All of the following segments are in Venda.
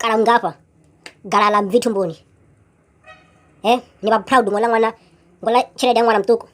kala nngafha gala ḽa mbvi thumbuni he ni vha proud ngo ḽa ṅwana ngo ḽa tshelede ya ṅwana muṱuku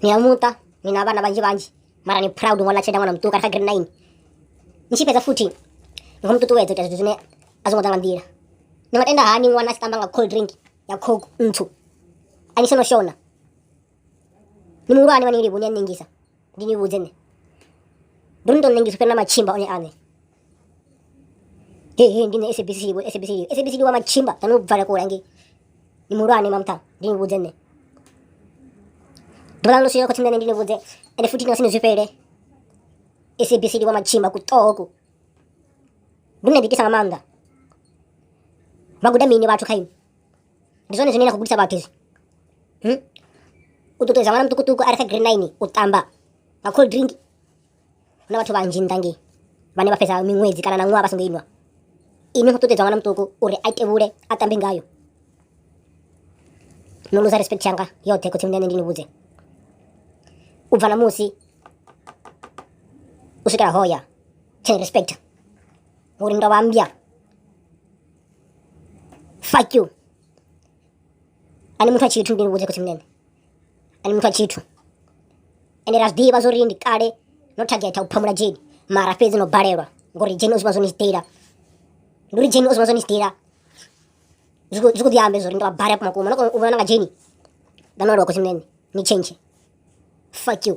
ni ya muṱa ni na vhana vhanzhi vhanzhi mara ni proud ngo ḽa tshelede ya ṅwana muṱuku kha grade nine ni tshi fhedza futhi ni khou mu ṱuṱuwedza u ita zwithu zwine a zwo ngo ḓa nga nḓila ni nga tenda hani ṅwana a tshi tamba nga cold drink ya coke ntswu a ni sono shona ni muhulwane vha ni livhi ni a ṋengisa ndi ni vhudze nṋe ndo ni tou ṋengisa fhira na matshimba one aṋe he he ndi nṋe sabc vho sabc sabc ndi wa matshimba na no bvala kule ngei ndi muhulwane mamutha ndi ni vhudze nṋe ḓuvha ḽo swika khotsimunene ndi ni vhudze ende futhi na sini zwi fhele sabc ndi wa matshimba kuṱoku ndo ni ḓitisa nga maanḓa vha guda mini vhathu kha ini ndi zwone zwine na khou gudisa vhathu izwi hmm? u ṱuṱuwedza ṅwana muṱukuṱuku a re kha green nine u tamba nga cold drink na vhathu vhanzhi nnḓa ngei vhane vha fhedza miṅwedzi kana na ṅwaha vha songo inwa ini khou ṱuṱuwedza ṅwana muṱuku uri a tevhule a tambe ngayo no luza respect yanga yoṱhe khotsi mndane ndi ni vhudze u bva na musi u swikela hoya tsheni respect uri ndo vha mbya fuck you ani muthu a tshithu ndi vhudze khotsi munene ani muthu a tshithu ende ra zwiḓivha zwo ri ndi kale no thagetha u phamula dzheni mara fhedzi no balelwa ngori dzheni o zwi vha zwo ni sitela ndi uri dzheni o zwi vha zwo ni sitela zwi khou ḓi ambe zori ndi vha bare kumakuma no kona u vhona nga dzheni nda no aluwa khotsi munene ni change fuck you